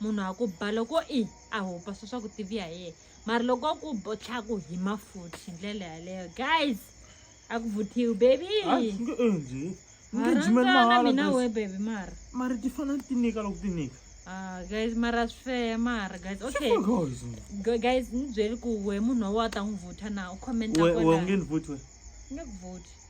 munhu a ku ba loko i a hupasa swa ku tivi ya yena mara loko a ku botlha ku hi mafuthi hi ndlela yaleyo guys a ku vuthiwi baby mina we baby mara mara ti fanele ti nyika loko ti nyika Ah, guys mara swi feya mara guys okay guys ni byeli ku we munhu wa ta n'wi vutha na u commenta nge ni vuti we nge ku vuti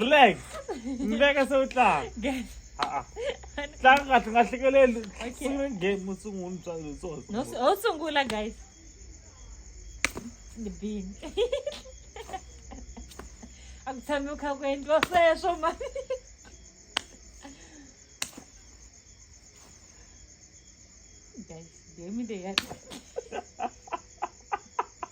relax mbeka se u tlanga tlanga kahle nga hlekeleli sungula game u sungula tsotso sungula guys the bean a ku tshami u kha ku endliwa sweswo mani guys game leyi ya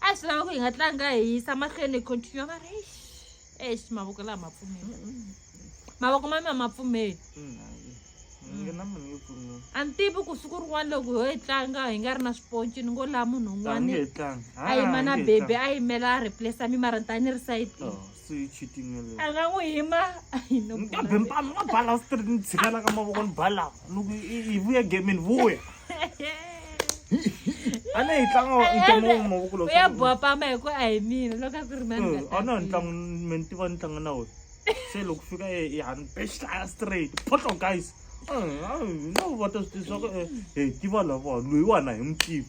a swi lava ku hi nga tlanga hi yisa mahlweni hi continue va ri eish eish mavoko lawa ma pfumeli mavoko ma mina ma pfumeli a ni tivi ku siku rin'wana loko ho yi tlanga hi nga ri na swiponci ni ngo laha munhu un'wana a yima na bebi a yimela a replace mi mara ni ta ni ri sayitini a nga n'wi hima kambe mpano wa bala straight ni tshikela ka mavoko ni bala loko hi vuya gemini vuya a ne hi tlanga ntlango wa mavoko lowu ya boha pama hi ku a hi mina loko a ku ri mani a na ntlango me ni tiva ni tlanga na wena se loko fika hi hani bexlaya straight photlo guys no vota swi tiva swa ku hi tiva lava loyiwana hi n'wi tiva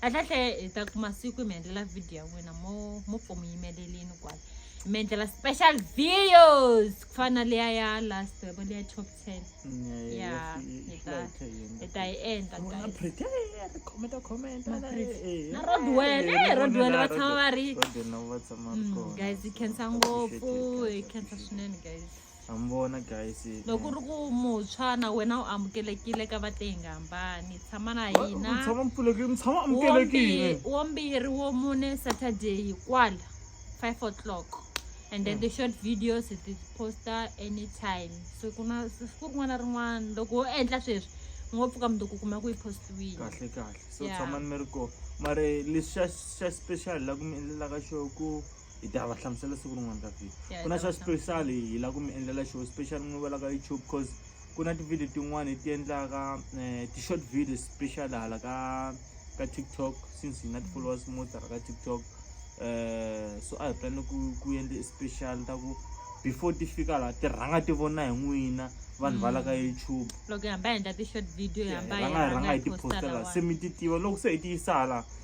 kahlekahle hi ta kuma siku hi mi endlela video ya n'wina mo mo pfo mi yimelelini kwala hi mi endlela special videos ku fana na leya ya last yabo leya top ten ya hi ta hi ta yi endla na rodwell e rodwell va tshama va ri mm, guys yi khensa ngopfu yi khensa swinene guys ha mi vona guys loko ri ku muntshwa na wena u amukelekile ka vatengambani tshama na hina tshama mpfulekile mi tshama amukelekile wo mbirhi wo mune saturday kwala 5 o'clock and then mm. the short videos it is poster anytime so ku na siku rin'wana na rin'wana loko wo endla sweswi ngo pfuka mundzuku kuma ku yi postiwile kahle kahle so tshamani mi ri kona mara lexi xa xa special la ku mi endlelaka xo ku hi ta va hlamusela siku rin'wana ka vhiki Yeah, ku na hi ta swa va special hi la ku mi endlela show special n'wi vela ka youtube cause ku na ti-video tin'wani hi ti endlaka eh, ti-short videos special hala ka ka tiktok since hi na ti-followers mo tala ka tiktok eh, so a hi plane ku ku endle special ta ku before ti fika laha ti rhanga ti vona hi n'wina vanhu va la ka youtube loko hi hamba hi endla ti-short video hi hamba hi rhanga hi rhanga hi ti posta postela se lawa mi ti tiva loko se hi ti yisa hala